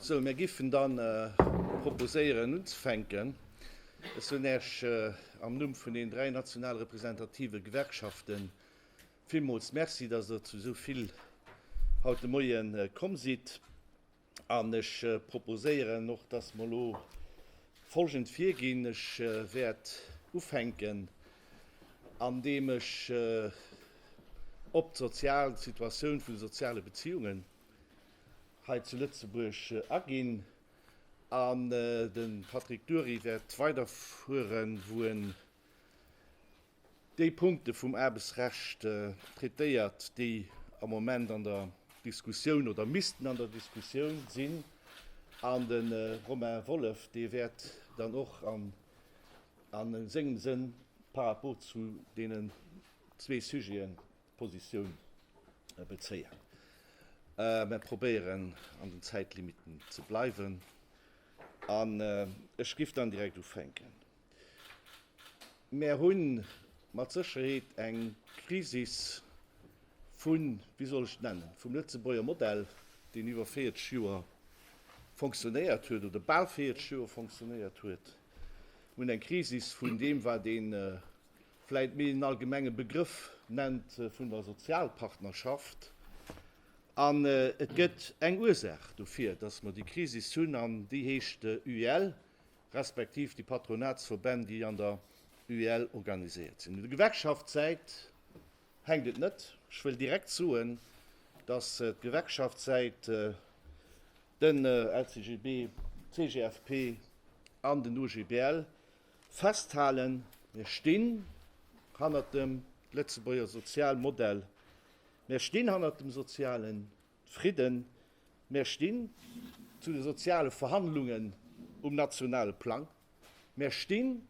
Sou, mir géifen dann proposéieren unzefänken. Ech soen Iech am Numm vun den dräi national representative Gewerkschafte villmools Merci, dass Der zu esou vill haut de Moie komm sidd. An ech proposéieren och, dass mer elo folgend virginn, Ech wäert ufänken, andeem ech op d'sozial Situatioun vun de soziale Beziehungen hei zu Lëtzebuerg aginn an de Patrick Dury wäert weiderfueren, wou en Déi Punkte vum Aarbechtsrecht traitéiert, déi am Moment an der Diskussioun oder missten an der Diskussioun sinn. An de Romain Wolff, dee wäert dann och a sengem Sënn par rapport zu deenen zwee Sujeten Positioun bezéien. Mer probéieren, an den Zäitlimitten ze bleiwen. An ech giff dann direkt ufänken. Mär hunn mat Sécherheet eng Krisis vun, wéi soll ech et nennen, vum Lëtzebuerger Modell, deen iwwer 40 Joer fonctionnéiert huet oder bal 40 Joer fonctionnéiert huet. Mir hunn eng Krisis vun deem, wat ee vläicht méi en allgemenge Begrëff nennt vun der Sozialpartnerschaft. An et gëtt eng Ursaach dofir, dass mer déi Krisis hunn, an déi heescht UEL, respektiv déi Patronatsverbänn, déi an der UEL organiséiert sinn. Op der Gewerkschaftssäit hänkt et net. Ech wëll direkt soen, dass d'Gewerkschaftssäit, den LCGB, d'CGFP an den OGBL festhalen, Mir stinn hannert dem Lëtzebuerger Sozialmodell, mir stinn hannert dem sozialen Fridden. Mär stinn zu de soziale Verhandlungen um nationale Plang. Mär stinn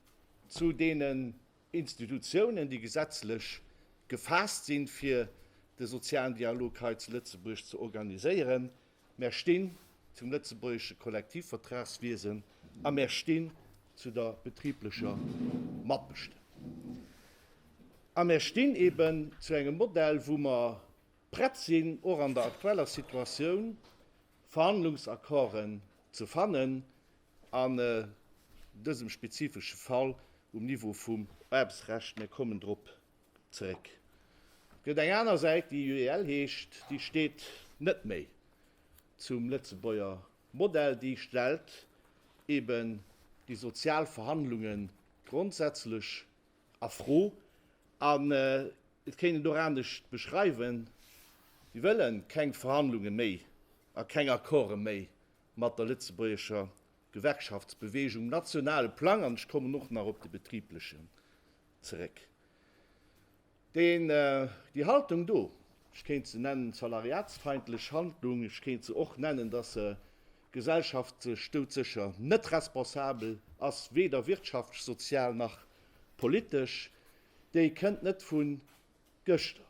zu deenen Institutionen, déi gesetzlech gefaasst sinn, fir de sozialen Dialog hei zu Lëtzebuerg ze organiséieren. Mär stinn zum lëtzebuergesche Kollektivvertragswiesen a mär stinn zu der betriblecher Matbestëmmung. A mär stinn eben zu engem Modell, wou mer prett sinn, och an der aktueller Situatioun Verhandlungsaccorden ze fannen, an dësem spezifesche Fall um Niveau vum Aarbechtsrecht, mir kommen drop zeréck. Et gëtt eng aner Säit, déi UEL heescht, déi steet net méi zum Lëtzebuerger Modell, déi stellt eeben déi sozial Verhandlungen grondsätzlech A Fro, an et kéint een et och anescht beschreiwen, Si wëlle keng Verhandlunge méi a keng Accorde méi mat der lëtzebuergescher Gewerkschaftsbewegung um nationale Plang, an ech kommen och nach op de betriblechen zeréck. Deen, déi Haltung do, ech kéint se nennen, salariatsfeindlech Handlung, ech kéint se och nennen, datt se D'Gesellschaft sech doudsécher net responsabel ass, weder wirtschaftsch, sozial nach politesch, déi kënnt net vu gëschter.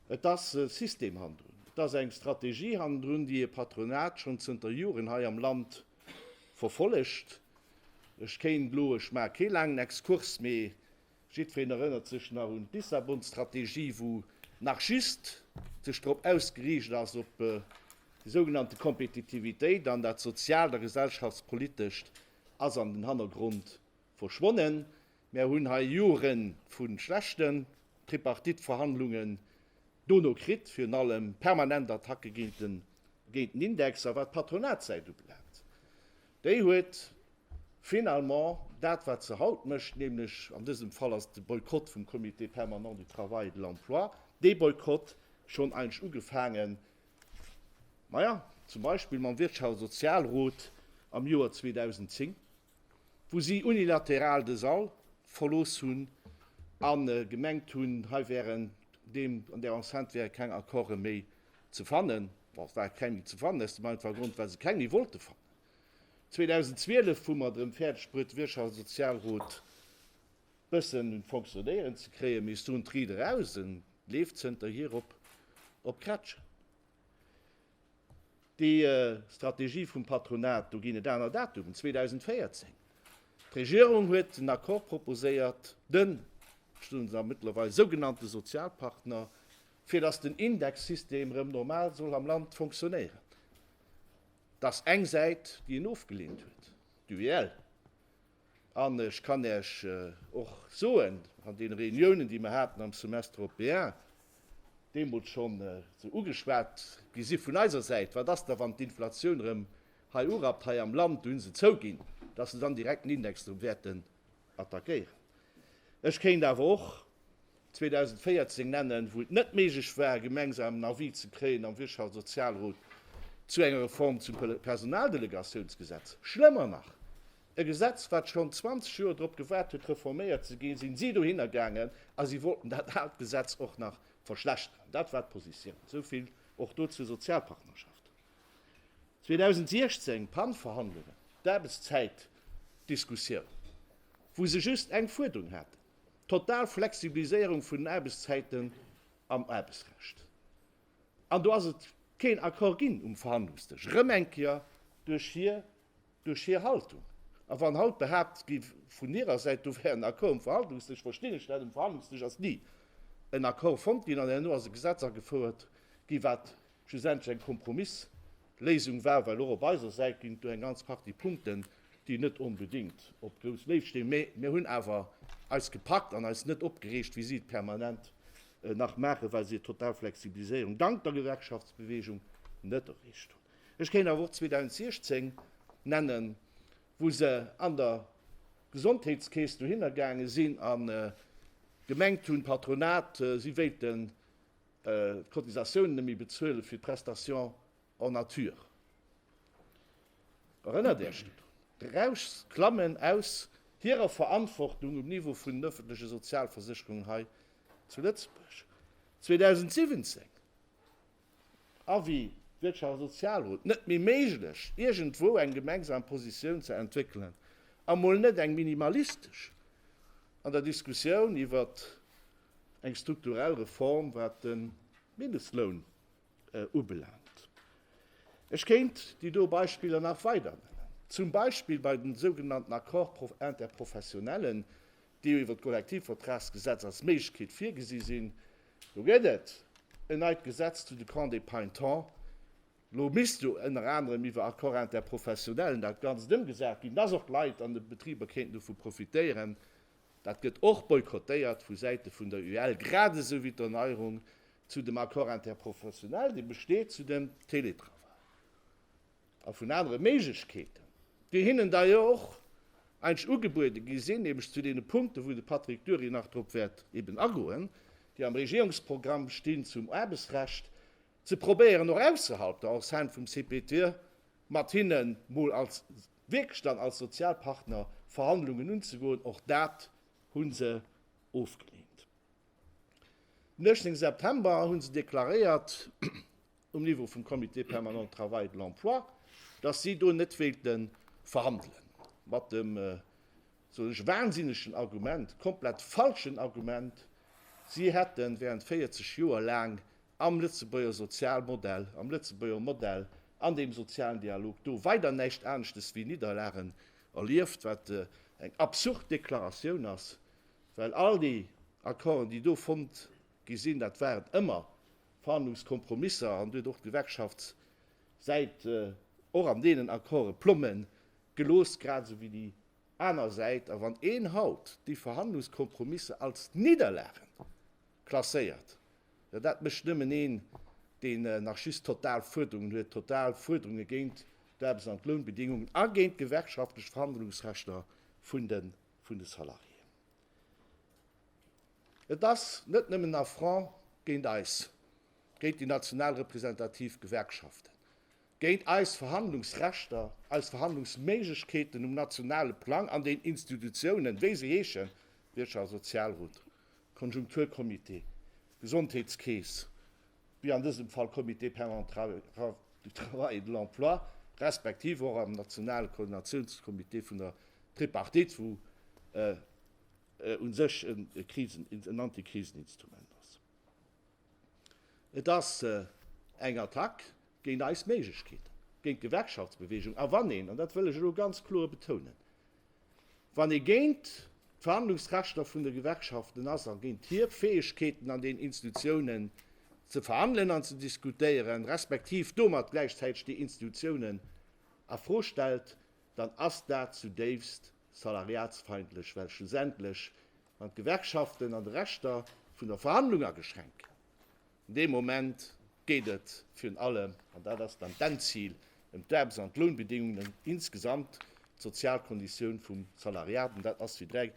Et ass e System hannendrun, et ass eng Strategie hannendrun, déi e Patronat schonn zënter Joren hei am Land verfollegt. Ech kéint elo, ech maache kee laangen Exkurs, mee Jiddfeen erënnert sech nach un d'Lissabon-Strategie, wou nach just sech drop ausgeriicht ass, op déi sougenannte Kompetitivitéit, an dat Sozialt a Gesellschaftspolitescht ass an den Hannergrond verschwonnen. Mär hunn hei Jore vu schlechten Tripartite-Verhandlungen dono kritt, virun allem permanent Attacke géint den Index. A wat d'Patronatssäit ubelaangt, Déi huet finalement dat, wat se haut mécht, nämlech, an dësem Fall ass et de Boykott vum Comité permanent du travail et de l'emploi, dee Boykott schonn eigentlech ugefaangen, maja, zum Beispill mam Wirtschafts a Sozialrot am Joer 2010, wou si unilateral de Sall verlooss hunn a gemengt hunn, hei wären, an där Enceinte wäre keng Accorde méi Ze fannen, bon, et war keng méi ze fannen, aus dem einfache Grond, well se keng méi wollte fannen. 2012 hu mer drëm fäerdeg bruet, de Wirtschafts a Sozialrot bëssen un d'Fonctionnéieren ze kréien, mee soen d'Ried eraus, e leeft zënterhier op Krätschen. Déi Strategie vum Patronat, do ginn et aner Datumen, 2014. D'Regierung huet en Accord proposéiert, den, ech soen se a mëttlerweil sougenannte Sozialpartner, fir dass den Indexsystem erëm normal soll am Land fonctionnéieren, dass eng Säit, déi en ofgelehnt huet, d'UEL, an ech kann Iech och soen, an deene Réuniounen, déi mer haten am Semestre européen, deemools schonn esou ugeschwat gi si vun eiser Säit, Wat ass da, wann d'Inflation erëm hei urappt hei am Land, do hu se zouginn, dass se dann direkt den Index erëm wäerten attackéieren. Ech kéint awer och 2014 nennen, wou et net méiglech war, e gemengsamen Avis ze kréien am Wirtschaftssozialrot zu enger Reform zum Personaldelegatiounsgesetz. Schlëmmer nach, e Gesetz, wat schonn 20 Joer drop gewaart huet, reforméiert ze ginn, si si dohinner gaangen a si wollten dat aalt Gesetz och nach verschlechteren. Dat war d'Positioun. Esou vill och do zur Sozialpartnerschaft. 2016, Pan-Verhandlungen, d'Aarbechtszäitdiskussioun, wou se just eng Fuerderung haten, total Flexibiliséierung vun den Aarbechtszäiten am Aarbechtsrecht. An do ass et keen Accord ginn um Verhandlungsdësch, erëm eng Kéier duerch hir, duerch hir Haltung. A wann haut behaapt gi vun hirer Säit, do wär en Accord um Verhandlungsdësch, verstinn ech dat, um Verhandlungsdësch ass ni en Accord fonnt ginn an herno ass e Gesetz agefouert gi wat, schlussendlech eng Kompromissléisung war, well och op eiser Säit ginn et do eng ganz Partie Punkten, déi net onbedéngt op grouss Léift stinn, mä mir hunn awer eis gepackt an eis net opgereegt, wéi si et permanent nach maachen, well si total Flexibiliséierung dank der Gewerkschaftsbewegung net erreecht hunn. Ech kéint awer och 2016 nennen, wou se an der Gesondheetskeess dohinner gaange sinn a gemengt hunn, d'Patronat, si wéilten d'Cotisatiounen net méi bezuelen fir d'Prestation en nature. Erënnert Är Iech drun? D'Rauschs klammen aus hirer Verantwortung um Niveau vun den öffentleche Sozialversicherungen hei zu Lëtzebuerg. 2017, Avis Wirtschafts a Sozialrot, net méi méiglech, iergendwou eng gemengsam Positioun ze entwéckelen, a mol net eng minimalistesch, an der Diskussioun iwwert Eng strukturell Reform wat de Mindestloun ubelaangt, ech kéint déi do Beispiller nach weider nennen, zum Beispill bei den sougenannten Accords interprofessionnellen, déi jo iwwer d'Kollektivvertragsgesetz als Méiglechkeet virgesi sinn, do gëtt et en neit Gesetz zu de Camps de Payntons, lo misst jo ënner anerem iwwer Accords interprofessionnellen dat Ganzt ëmgesat ginn, dass och d'Leit an de Betriber kéinten dovu profitéieren, Dat gëtt och boykottéiert vu Säite vun der UEL, grad esou wéi d'Erneierung zu dem Accord interprofessionnel, dee besteet zu dem Teletravail a vun anere Méiglechkeeten, déi hinnen da jo och eigentlech ugebuede gi sinn, nämlech zu deene Punkten, wou de Patrick Dury nach drop wäert eben agoen, déi am Regierungsprogramm stinn zum Aarbechtsrecht, ze probéieren och ausserhalb der Enceinte vum CPT mat hinne mol als wierklech dann als Sozialpartner Verhandlungen unzegoen, och dat hu se ofgeleent. Den 18 September hu se deklaréiert, um Niveau vum Comité permanent de travail et de l'emploi, datt si do net wéilte verhandelen, mat dem, soen ech, wahnsinnegen Argument, komplett falschen Argument, si hätte während 40 Joer laang am Lëtzebuerger Sozialmodell, am Lëtzebuerger Modell an deem sozialen Dialog do weider näischt aneschtes wéi Nidderlagen erlieft, wat eng absurd Deklaratioun ass, well all déi Accorden, déi do fonnt gi sinn, dat waren ëmmer Verhandlungskompromisser an Dir huet och d'Gewerkschaftssäit och an deenen Accorde plomme gelooss, grad esou wéi déi aner Säit. A wann een haut déi Verhandlungskompromisser als Nidderlagen klasséiert, Jo, dat mécht nëmmen een, deen nach just total Fuerderungen huet, total Fuerderunge géint d'Aarbechts an d'Lounbedingungen a géint d'gewerkschaftlech Verhandlungsrechter vun de Salariéen. Et ass net nëmmen en Affront géint eis, géint déi national representativ Gewerkschaften, géint eis Verhandlungsrechter, eis Verhandlungsméiglechkeeten um nationale Plang an den Institutiounen, wéi se heeschen, Wirtschafts a Sozialrot, Konjunkturcomité, Gesondheetskeess, wéi an dësem Fall Comité permanent du travail et de l'emploi, respektiv och am nationale Koordinatiounscomité vun der Tripartite, wou u sech e Krisen, en Antikriseninstrument ass. Et ass eng Attack géint eis Méiglechkeeten, géint d'Gewerkschaftsbewegung. A wann een, an dat wëll ech elo ganz kloer betounen, wann ee géint d'Verhandlungsrechter vun de Gewerkschaften ass a géint hir Fäegkeeten an den Institutionen ze verhandelen an ze diskutéieren, respektiv domat gläichzäiteg déi Institutionen a Fro stellt, dann ass dat zudéifst salariatsfeindlech, well schlussendlech Wann d'Gewerkschaften an de Rechter vun der Verhandlung ageschränkt ginn, dee Moment geet et virun allem, an dat ass dann d'Endzil, ëm d'Aarbechts an d'Lounbedingungen insgesamt, d'Sozialkonditioun vum Salariat. An dat ass, wéi déi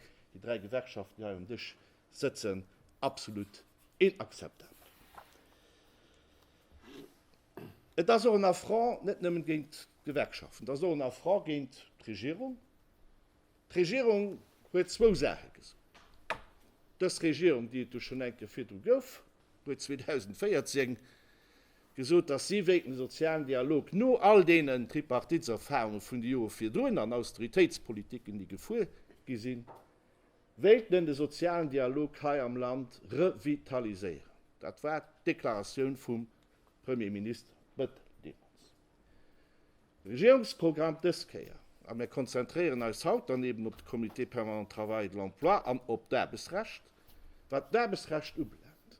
dräi Gewerkschaften hei um Dësch sëtzen, absolut inakzeptabel. Et ass och en Affront net nëmmen géint d'Gewerkschaften, et ass och en Affront géint d'Regierung, D'Regierung huet zwou Saache gesot. Dës Regierung, déi et jo schonn eng Kéier virdru gouf, huet 2014 gesot, dass si wéilt de sozialen Dialog no all deenen Tripartiteserfahrunge vun de Jore virdrun an Austeritéitspolitiken, déi gefuer gi sinn, wéilt en de sozialen Dialog hei am Land revitaliséieren. Dat war d'Deklaratioun vum Premier Minister Bettel deemools. Regierungsprogramm dës Kéier, a mir konzentréieren eis haut dann eben op de Comité permanent Travail et de l'emploi an op d'Aarbechtsrecht, wat d'Aarbechtsrecht ubelaangt,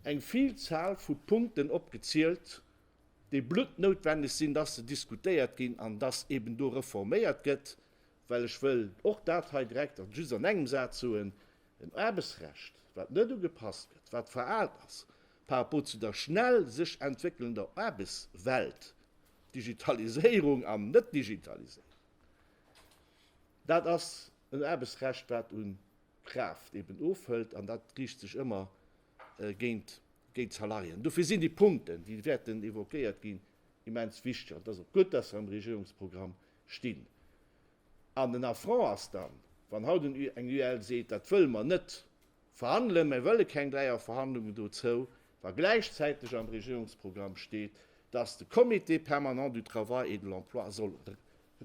eng Vielzahl vu Punkten opgezielt, déi bluttnoutwenneg sinn, dass se diskutéiert ginn an dass eben do reforméiert gëtt, well ech wëll och dat hei direkt an just an engem Saz soen, en Aarbechtsrecht, wat net ugepasst gëtt, wat veraalt ass par rapport zu der schnell sech entwéckelnder Aarbechtswelt, Digitaliséierung an Net-Digitaliséierung, dat ass en Aarbechtsrecht, wat u Kraaft eben ofhëlt, an dat riicht sech ëmmer géint d'Salariéen. Dofir sinn déi Punkten, déi wäerten évoquéiert ginn, immens wichteg. An et ass och gutt, dass se am Regierungsprogramm stinn. An den Affront ass dann, wann haut eng UEL seet, dat wëlle mer net. verhandelen, mä wëlle keng Dräierverhandlungen dozou, wa gläichzäiteg am Regierungsprogramm steet, dass de Comité permanent du travail et de l'emploi soll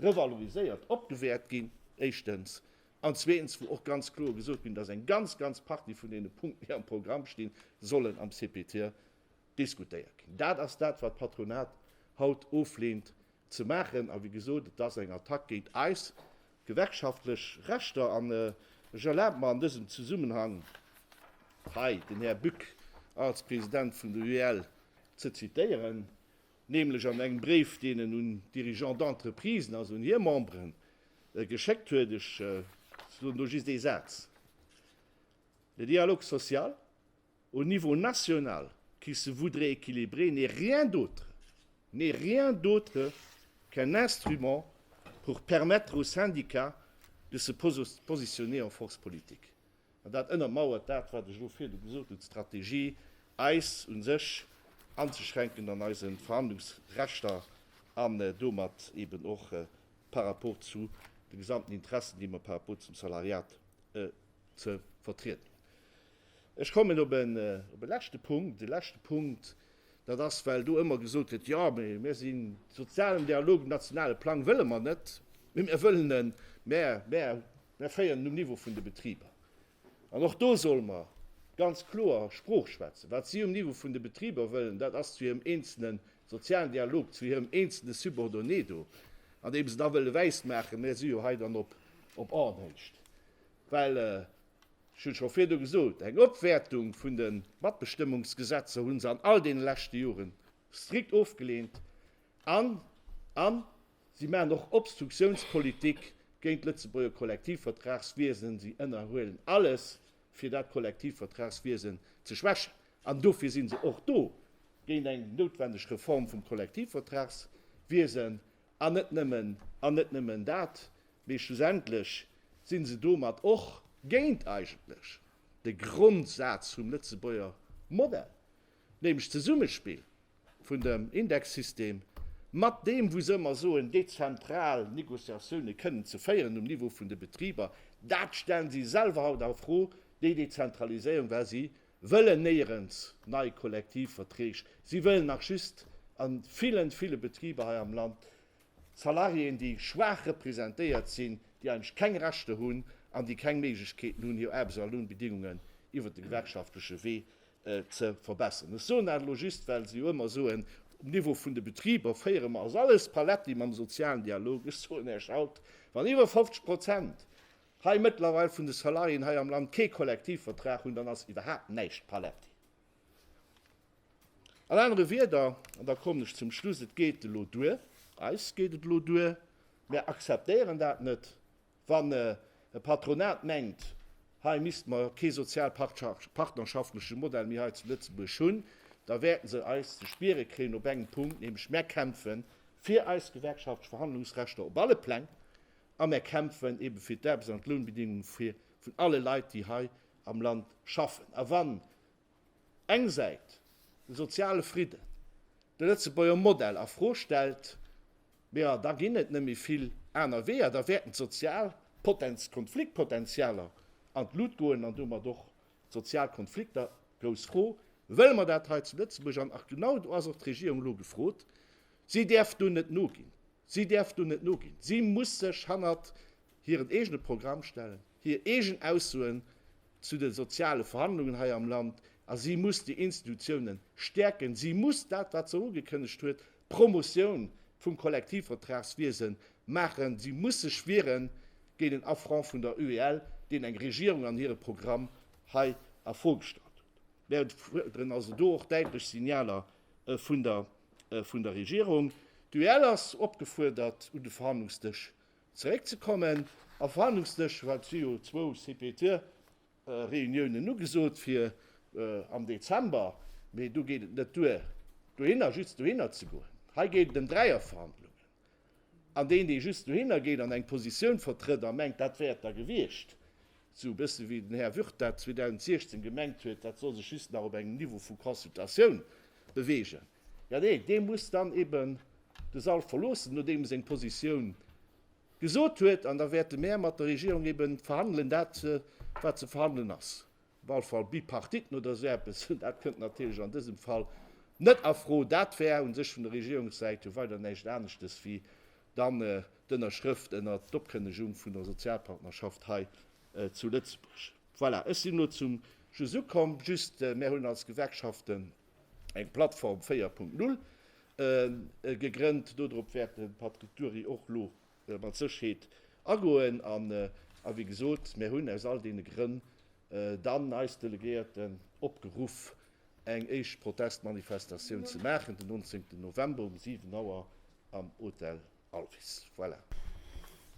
revaloriséiert, opgewäert ginn, éischtens, an zweetens, wou och ganz kloer gesot ginn, dass eng ganz, ganz Partie vun deene Punkten, déi am Programm stinn, sollen am CPTE diskutéiert ginn. Dat ass dat, wat d'Patronat haut oflehnt, ze maachen. A wéi gesot, et ass eng Attack géint eis gewerkschaftlech Rechter. An ech erlabe mer an dësem Zesummenhang hei den Här Buck als President vun der UEL ze zitieren, nämlech an engem Bréif, deen en un d'Dirigeants d'entreprisen, also un hir Memberen, geschéckt huet. Ech soen do just ee Saz, Le dialogue social, Au niveau national, qui se voudrait équilibré n'est rien d'autre, n'est rien d'autre qu'un instrument pour permettre aux syndicats de se positionner en force politique. An dat ënnermauert dat, wat ech elo virdu gesot hunn, d'Strategie, eis u sech anzeschränken an eise Verhandlungsrechter an domat eben och par rapport zu de gesamten Interessen, déi mer par rapport zum Salariat ze vertrieden hunn. Ech kommen op e leschte Punkt. E leschte Punkt, dat ass, well do ëmmer gesot gëtt, Jo, mä mir sinn de sozialen Dialog, den nationale Plang wëlle mer net, mä mir wëllen en, mä mir féieren en um Niveau vun de Betriber. An och do solle mer ganz kloer Sprooch schwätzen. Wat si um Niveau vun de Betriber wëllen, dat ass zu hirem eenzele sozialen Dialog, zu hirem eenzele Subordonné do, an deem se da wëlle wäismaachen, Mir si jo hei dann op Aarnhecht. Well Ech hunn scho virdu gesot, eng Opwäertung vun de Matbestëmmungsgesetzer hu se an all deene leschte Jore strikt ofgeleent an an si maachen och Obstruktiounspolitik géint d'Lëtzebuerger Kollektivvertragswiesen. Si ënnerhuelen alles, fir dat Kollektivvertragswiesen ze schwächen. An dofir si se och do, géint eng noutwendeg Reform vum Kollektivvertragswiesen. An net nëmmen, an net nëmmen dat, mee schlussendlech si se domat och géint eigentlech de Grondsaz vum Lëtzebuerger Modell, nämlech d'Zesummespill vun dem Indexsystem mat deem, wou se ëmmer soen, dezentral Négociatiounen kënnen ze féieren um Niveau vun de Betriber. Dat stellen si selwer haut a Fro, déi Dezentraliséierung, well si wëllen néierens nei Kollektivverträg, si wëllen nach just a villen, ville Betriber hei am Land Salariéen, déi schwaach representéiert sinn, déi eigentlech keng Rechter hunn an déi keng Méiglechkeeten hunn, hir Aarbechts a Lounbedingungen iwwert de gewerkschaftleche Wee ze verbessern. Ech soen dat elo just, well se jo ëmmer soen, um Niveau vun de Betriber féiere mer, ass alles paletti mam sozialen Dialog. Ech soen Iech haut, wann iwwer 50 Prozent hei mëttlerweil vun de Salariéen hei am Land kee Kollektivvertrag hunn, dann ass iwwerhaapt näischt paletti. An anere Wieder, an da kommen ech zum Schluss, et geet elo duer, eis geet et elo duer, mär akzeptéieren dat net, wann e Patronat mengt, hei misste mer kee sozialpartnerschaftlesche Modell méi hei zu Lëtzebuerg hunn, da wäerte se eis ze spiere kréien op engem Punkt, nämlech mär kämpfe fir eis gewerkschaftlech Verhandlungsrechter op alle Pläng, a mär kämpfen ebe fir d'Aarbechts an d'Lounbedingunge vun alle Leit, déi hei am Land schaffen. A wann eng Säit de soziale Fridden, de Lëtzebuerger Modell a Fro stellt, jo da ginn et net méi vill aner Weeër, da wäerten d'sozial Konfliktpotentialer an d'Lut goen an domat och d'sozial Konflikter. Grouss Fro, wëlle mer dat hei zu Lëtzebuerg? An genau do ass och d'Regierung elo gefrot, si däerf do net noginn. Si däerf do net noginn. Si muss sech hannert hiren eegene Programm stellen, hir eegen Aussoen zu de soziale Verhandlungen hei am Land, a si muss déi Institutionen stäerken. Si muss dat, wat se ugekënnegt huet, d'Promotioun vum Kollektivvertragswiese maachen. Si muss sech wiere géint en Affront vun der UEL, deen eng Regierung an hire Programm hei a Fro gestallt huet. Mir fuerderen also do och däitlech Signaler vun der Regierung. D'UEL ass opgefuerdert un de Verhandlungsdësch zeréckzekommen. Am Verhandlungsdësch war et si jo zwou CPT-Reuniounen ugesot fir am Dezember, mee do geet et net duer dohinner just dohinner ze goen. Hei geet et ëm Dräierverhandlungen. An deen, dee just dohinner geet an eng Positioun vertrëtt a mengt, dat wär et da gewiescht, esou e bësse wéi den Här Würth dat 2016 gemengt huet, dat soll sech just nach op engem Niveau vu Consultatioun beweegen, jo, dee, dee muss dann eben de Sall verloossen, nodeem e seng Positioun gesot huet. An da wäerte mär mat der Regierung eben verhandelen dat, wat ze verhandelen ass. Wahlfall Bipartiten oder esou eppes, dat kënnt natierlech an dësem Fall net a Fro. Dat wär u sech vun der Regierungssäit jo weider näischt aneschtes wéi dann d'Ënnerschrëft ënnert d'Opkënnegung vun der Sozialpartnerschaft hei zu Lëtzebuerg. Voilà, ech sinn elo zum Schluss ukomm. Just, mär hunn als Gewerkschaften eng Plattform 4.0 gegrënnt. Dodrop wäert de Patrick Dury och elo mat Sécherheet agoen. An, wéi gesot, mir hunn aus all deene Grënn dann eis Delegéierten opgeruff, eng éischt Protestmanifestatioun ze maachen den 19 November um 7 Auer am Hotel Alvis. Voilà.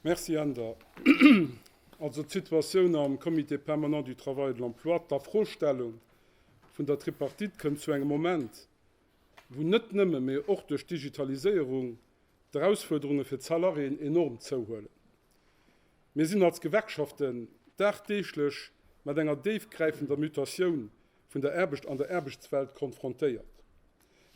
Merci, Änder. Also d'Situatioun am Comité permanent du travail et de l'emploi, d'Afrostellung vun der Tripartite kënnt zu engem Moment, wou net nëmme, mee och duerch d'Digitaliséierung d'Erausfuerderunge fir d'Salariéen enorm zouhuelen. Mir sinn als Gewerkschaften dagdeeglech mat enger déifgräifender Mutatioun vun der Aarbecht an der Aarbechtswelt konfrontéiert.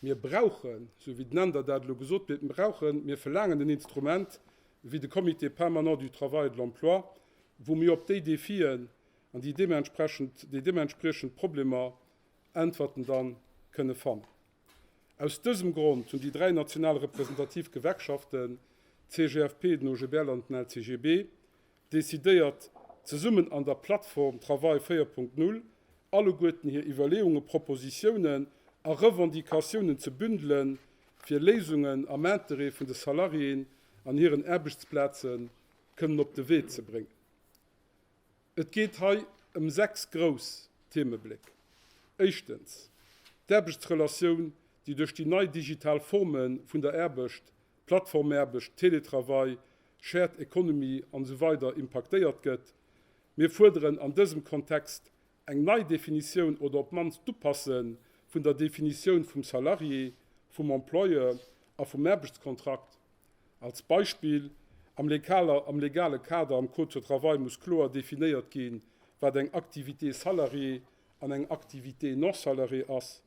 Mir brauchen, esou wéi den Änder dat elo gesot huet, mir brauchen, mir verlaangen en Instrument wéi de Comité permanent du travail et de l'emploi, wou mir op déi Défien an déi deementsprechend Problemer Äntwerten dann kënne fannen. Aus dësem Grond hunn déi dräi national representativ Gewerkschaften, d'CGFP, den OGBL an den LCGB, decidéiert, zesummen an der Plattform Travail 4.0 alleguerten hir Iwwerleeungen, Propositiounen a Revendicatiounen ze bündelen, fir Léisungen am Interêt vun de Salariéen an hiren Aarbechtsplaze kënnen op de Wee ze bréngen. Et geet hei ëm sechs grouss Themebléck. Éischtens, d'Aarbechtsrelatioun, déi duerch déi nei digital Forme vun der Aarbecht, Plattformaarbecht, Teletravail, Shared Economy an esou weider impaktéiert gëtt. Mir fuerderen an dësem Kontext eng Neidefinitioun oder op d'mannst d'Upasse vun der Definitioun vum Salarié, vum Employeur a vum Aarbechtskontrakt. Als Beispill, Am legale Kader am Code de travail muss kloer definéiert ginn, wat eng Activité salariée an eng Activité non salariée ass.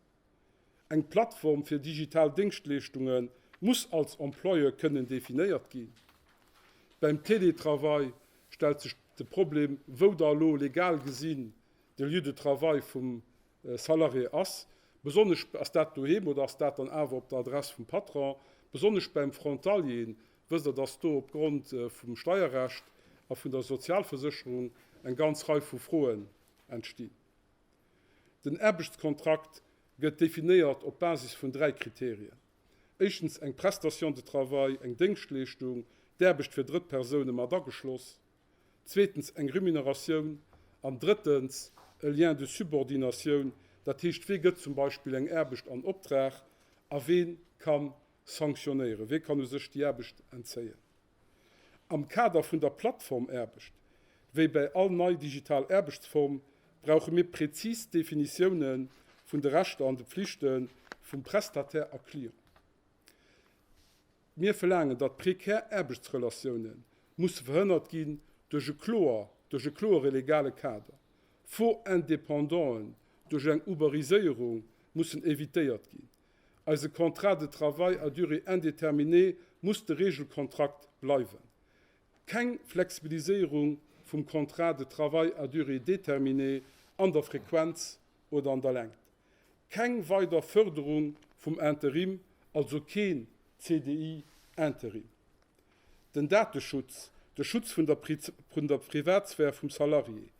Eng Plattform fir digital Déngschtleeschtunge muss als Employeur kënnen definéiert ginn. Beim Télétravail stellt sech de Problem, wou da elo legal gesinn de Lieu de travail vum Salarié ass, besonnesch ass dat doheem oder ass dat dann awer op der Adress vum Patron? Besonnesch beim Frontalier, wësst Der, dass do opgrond vum Steierrecht a vun der Sozialversécherung eng ganz Rei vu Froen entstinn. Den Aarbechtskontrakt gëtt definéiert op Basis vun dräi Kriterien, éischtens eng Prestation de travail, eng Déngschtleeschtung, d'Aarbecht fir Drëttpersoune mat ageschloss, zweetens eng Remuneratioun an drëttens e Lien de subordinatioun, dat heescht, wee gëtt zum Beispill eng Aarbecht an Optrag a wee ka sanktionéieren, wee kann u sech déi Aarbecht entzéien. Am Kader vun der Plattformaarbecht, wéi bäi all nei digital Aarbechtsform, brauche mir präzis Definitioune vun de Rechter an de Pflichte vum Prestataire a Client. Mir verlaangen, datt prekär Aarbechtsrelatioune musse verhënnert ginn duerch e kloer, duerch e kloere legale Kader. Faux indépendanten duerch eng Uberiséierung mussen evitéiert ginn. Eise Contrat de travail à durée indéterminée muss de Regelkontrakt bleiwen. Keng Flexibiliséierung vum Contrat de travail à durée déterminée an der Frequenz oder an der Längt. Keng weider Fërderung vum Interim, also keen CDI interim. Den Dateschutz, de Schutz vun der vun der Privatsphär vum Salarié,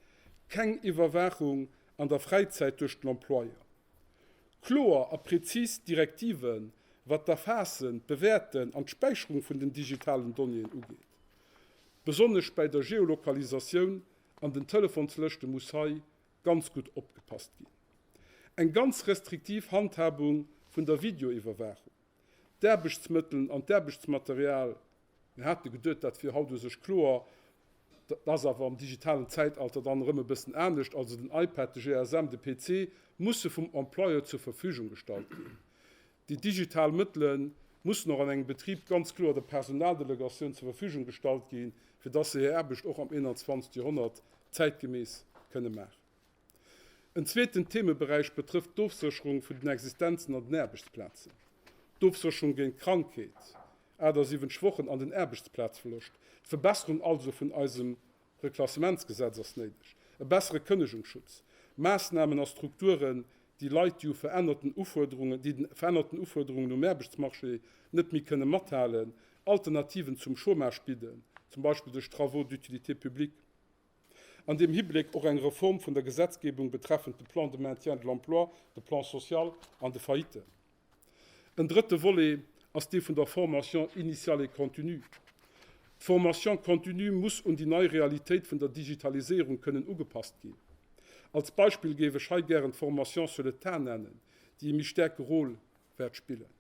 keng Iwwerwaachung an der Fräizäit duerch den Employeur. Kloer a prezis Direktiven, wat d'Erfaassen, d'Bewäerten an d'Späicherung vun den digitalen Donnéeën ugeet. Besonnesch bäi der Geolokalisatioun an den Telefonslëschte muss hei ganz gutt opgepasst ginn. Eng ganz restriktiv Handhabung vun der Videoiwwerwaachung. D'Aarbechtsmëttelen an d'Aarbechtsmaterial, mir hate geduet, dat wier haut u sech kloer, dat ass awer am digitalen Zäitalter dann erëm e bëssen anescht, also den iPad, de GSM, de PC, musse vum Employeur zur Verfügung gestallt ginn. Déi digital Mëttele mussen och an engem Betrib ganz kloer der Personaldelegatioun zur Verfügung gestallt gi fir dass se hir Aarbecht och am 21. Joerhonnert zäitgemäss kënne maachen. En zweeten Themeberäich betrëfft d'Ofsécherung vun den Existenzen an den Aarbechtsplazen. D'Ofsécherung géint Krankheet, 78 Wochen, an den Aarbechtsplazverloscht, d'Verbesserung also vun eisem Reklassementsgesetz ass néideg, e bessere Kënnegungsschutz, Maassnamen a Strukturen, déi Leit, déi u verännerten Ufuerderungen, déi den verännerten Ufuerderungen um Aarbechtsmarché net méi kënnen mathalen, Alternativen zum Chômage bidden, zum Beispill duerch Travaux d'utilité publique. An deem Hibléck och eng Reform vun der Gesetzgebung betreffend de Plan de maintien de l'emploi, de Plan social an de Failliten. En drëtte Volet ass dee vun der Formation initiale et continue. D'Formation continue muss un déi nei Realitéit vun der Digitaliséierung kënnen ugepasst ginn. Als Beispill géif ech hei gären d'Formation sur le tas nennen, déi e méi stäerke Rôle wäert spillen.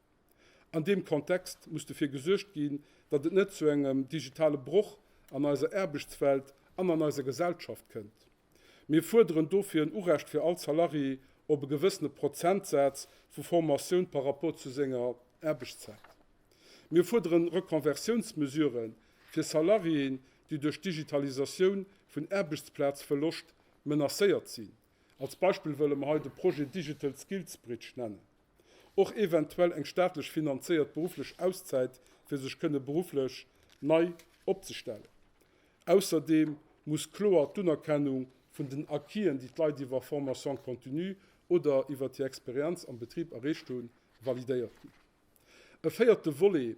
An deem Kontext muss dofir gesuergt ginn, datt et net zu engem digitale Broch an eiser Aarbechtswelt an an eiser Gesellschaft kënnt. Mir fuerderen dofir en Urecht fir all Salarié op e gewëssene Prozentsaz vu Formatioun par rapport zu senger Aarbechtszäit. Mir fuerderen Rekonversiounsmesurë fir Salariéen, déi duerch d'Digitalisatioun vun Aarbechtsplazverloscht menacéiert sinn. Als Beispill wëlle mer hei de Projet Digital Skills Bridge nennen. och eventuell eng staatlech finanzéiert berufflech Auszäit fir sech kënne berufflech nei opzestellen. Ausserdeem muss kloer d'Unerkennung vun den Acquisen, déi d'Leit iwwer Formation continue oder iwwert hir Experienz am Betrib erreecht hunn, validéiert ginn. E véierte Volet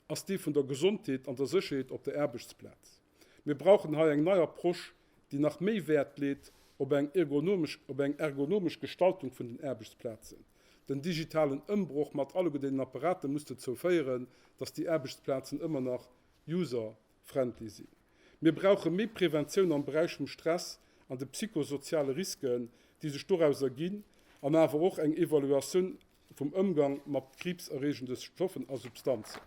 ass dee vun der Gesondheet an der Sécherheet op der Aarbechtsplaz. Mir brauchen hei eng nei Approche, déi nach méi Wäert leet op eng ergonomesch, op eng ergonomesch Gestaltung vun den Aarbechtsplazen. Den digitalen Ëmbroch mat alleguer deenen Apparaten muss dozou féieren, dass déi Aarbechtsplazen ëmmer nach user-friendly sinn. Mir brauche méi Preventioun am Beräich vum Stress an de psychosoziale Risken, déi sech doraus erginn, an awer och eng Evaluatioun vum Ëmgang mat kriibserreegende Stoffen a Substanzen.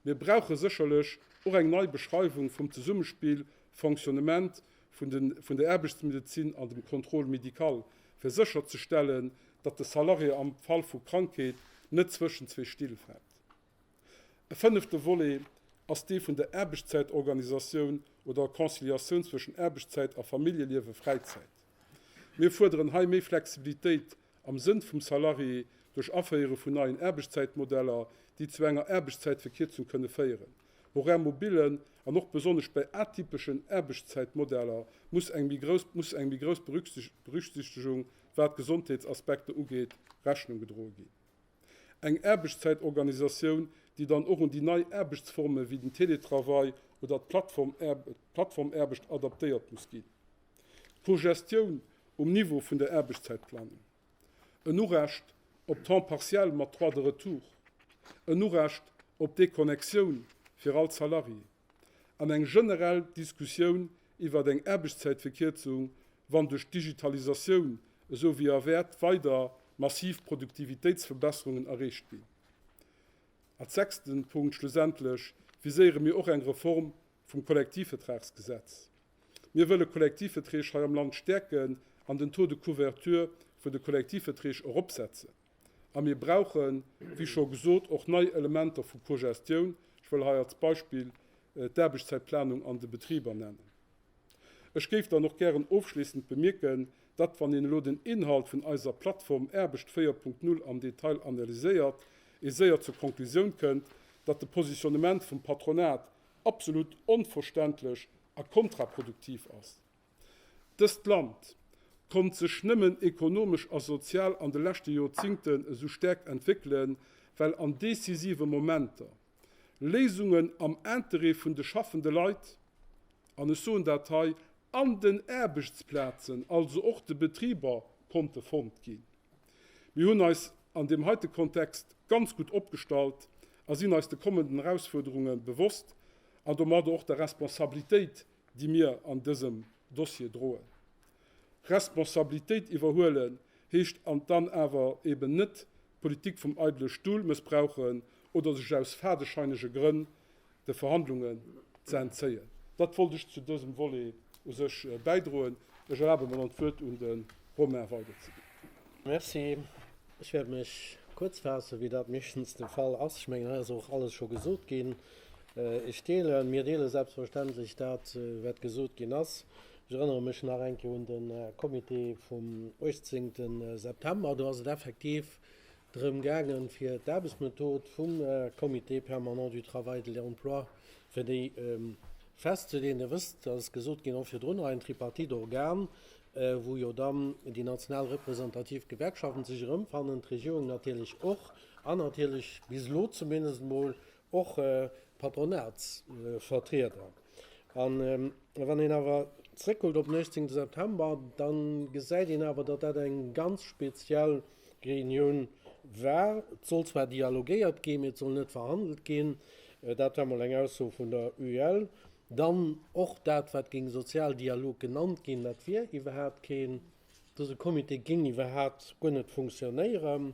Mir brauche sécherlech och eng nei Beschreiwung vum Zesummespill, Fonctionnement, vun der Aarbechtsmedezin an dem Contrôle médical, fir sécherzestellen, datt de Salarié am Fall vu Krankheet net zwëschen zwee Still fält. E fënnefte Volet ass dee vun der Aarbechtszäitorganisatioun oder Conciliatioun zwëschen Aarbechtszäit a Familljeliewe, Fräizäit. Mir fuerderen hei méi Flexibilitéit am Sënn vum Salarié, duerch Aféiere vun neien Aarbechtszäitmodeller, déi zu enger Aarbechtszäitverkierzung kënne féieren. Horaire mobillen an och besonnesch bei atypeschen Aarbechtszäitmodeller muss eng méi grouss Berücksichtegung, wat d'Gesondheetsaspekter ugeet, Rechnung gedroe ginn. Eng Aarbechtszäitorganisatioun, déi dann och un déi nei Aarbechtsforme wéi den Teletravail oder d'Plattformaarbecht adaptéiert muss ginn. pro Gestioun um Niveau vun der Aarbechtszäitplanung, en Urecht op Temps partiel mat Droit de retour, en Urecht op Déconnexioun fir all Salarié an eng generell Diskussioun iwwert eng Aarbechtszäitverkierzung, wann duerch d'Digitalisatioun esou wéi erwäert weider massiv Produktivitéitsverbesserungen erreecht ginn. Als sechsten Punkt schlussendlech viséiere mir och eng Reform vum Kollektivvertragsgesetz. Mir wëlle Kollektivverträg hei am Land stäerken an den Taux de couverture vun de Kollektivverträg eropsetzen. A mir brauchen, wéi scho gesot, och nei Elementer vu Cogestioun. Ech wëll hei als Beispill d'Aarbechtszäitplanung an de Betriber nennen. Ech géif dann och gären ofschléissend bemierken, datt, wann een elo den Inhalt vun eiser Plattform Aarbecht 4.0 am Detail analyséiert, ee séier zur Konklusioun kënnt, datt de Positionnement vum Patronat absolut onverständlech a kontraproduktiv ass. Dëst Land konnt sech nëmmen ekonomesch a sozial an de leschte Joerzingten esou stäerk entwéckelen, well an decisive Momenter Léisungen am Intérêt vun de schaffende Leit, an ech soen dat hei, an den Aarbechtsplazen, also och de Betriber, konnte fonnt ginn. Mir hunn eis an deem heite Kontext ganz gutt opgestallt a sinn eis de kommenden Erausfuerderunge bewosst an domadder och der Responsabilitéit, déi mir an dësem Dossier droen. Responsabilitéit iwwerhuelen heescht dann awer eben net d'Politik vum eidele Stull mëssbrauchen oder sech aus fadescheinege Grënn de Verhandlungen ze entzéien. Dat wollt ech zu dësem Volet u sech bäidroen. Ech erlabe mer dann, d'Wuert un de Romain Weider ze ginn. Merci. Ech wäert mech kuerz faassen, wéi dat meeschtens de Fall ass. Ech mengen, hei ass och alles scho gesot ginn. Ech deelen, mir deelen selbstverständlech dat, wat gesot ginn ass. Ech erënnere mech nach eng Kéier un de Comité vum 18. September. Do ass et effektiv drëm gaangen, fir d'Aarbechtsmethod vum Comité permanent du travail, de l'emploi, fir déi festzeleen. Dir wësst, dass ass gesot ginn, och virdrunner, en Tripartite-Organ, wou jo dann déi national representativ Gewerkschaften sech erëmfannen, d'Regierung natierlech och an natierlech, bis elo zumindest emol, och Patronatsvertrieder. A wann een awer zréckkuckt op den 18 September, da gesäit een awer, datt dat eng ganz speziell Reunioun war. Et soll zwar dialogéiert ginn, mee et soll net verhandelt ginn. Dat war mol eng Ausso vun der UEL. Dann och dat, wat géing Sozialdialog genannt ginn, dat wier iwwerhaapt keen. Dëse Comité géing iwwerhaapt guer net funktionéieren.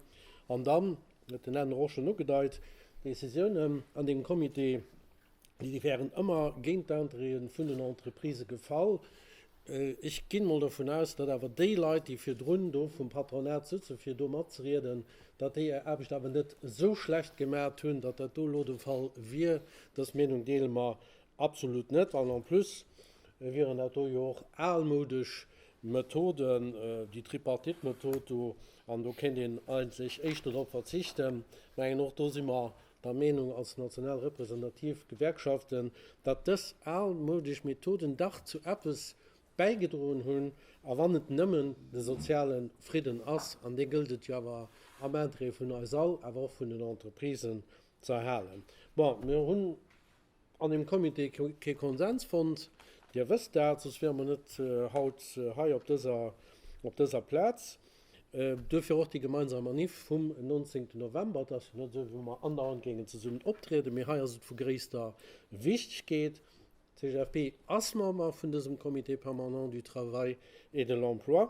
An dann huet den Enno och schonn ugedeit, D'Décisiounen an deem Comité, déi wären ëmmer géint d'Intérêtë vun den Entreprisë gefall. Ech ginn mol dovun aus, datt awer déi Leit, déi virdrun do vum Patronat sëtzen, fir do matzerieden, datt déi hir Aarbecht awer net esou schlecht gemaacht hunn, datt dat do elo de Fall wier. Dës Meenung deele mer Absolut net, an en plus wieren dat do jo och almoudesch Methoden, déi Tripartite-Method do, an do kéint een eigentlech éischter drop verzichten. Ech mengen, och do si mer der Meenung als national representativ Gewerkschaften, datt dës almoudesch Methoden dach zu eppes bäigedroen hunn, a wann et nëmmen de soziale Fridden ass, an dee gëllt et jo awer am Interêt vun eis all, awer och vun den Entreprisen, ze erhalen. Bon, mir hunn an dem Comité kee Konsens fonnt. Dir wësst dat, soss wiere mer net haut hei op dëser Plaz. Duerfir och déi gemeinsam Manif vum 19 November. Et ass jo net esou, wéi wa mer andauernd géingen zesummen optrieden, mee hei ass et vu gréisster Wichtegkeet. D'CGFP ass Member vun dësem Comité permanent du travail et de l'emploi.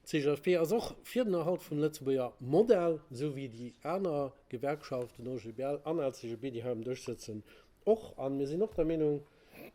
D'CGFP ass och fir den Erhalt vum Lëtzebuerger Modell, esou wéi déi aner Gewerkschaften, OGBL an LCGB, déi hei am Dësch sëtzen, och. A mir sinn och der Meenung,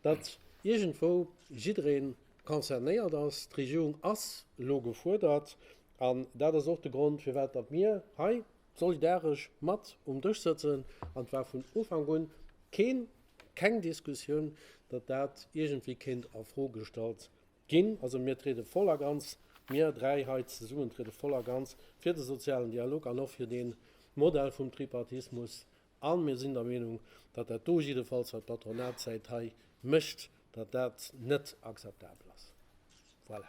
datt iergendwou jidderee concernéiert ass. D'Regierung ass elo gefuerdert. An dat ass och de Grond, firwat datt mir hei solidaresch mat um Dësch sëtzen. An et war vun Ufank un keen, keng Diskussioun, datt dat iergendwéi kéint a Fro gestallt Ginn. Also mir triede voll a ganz, mir dräi hei zesummen triede voll a ganz fir de sozialen Dialog an och fir dee Modell vum Tripartismus a mir sinn der Meenung, datt dat do jiddefalls, wat d'Patronatsäit hei mécht, datt dat net akzeptabel ass. Voilà.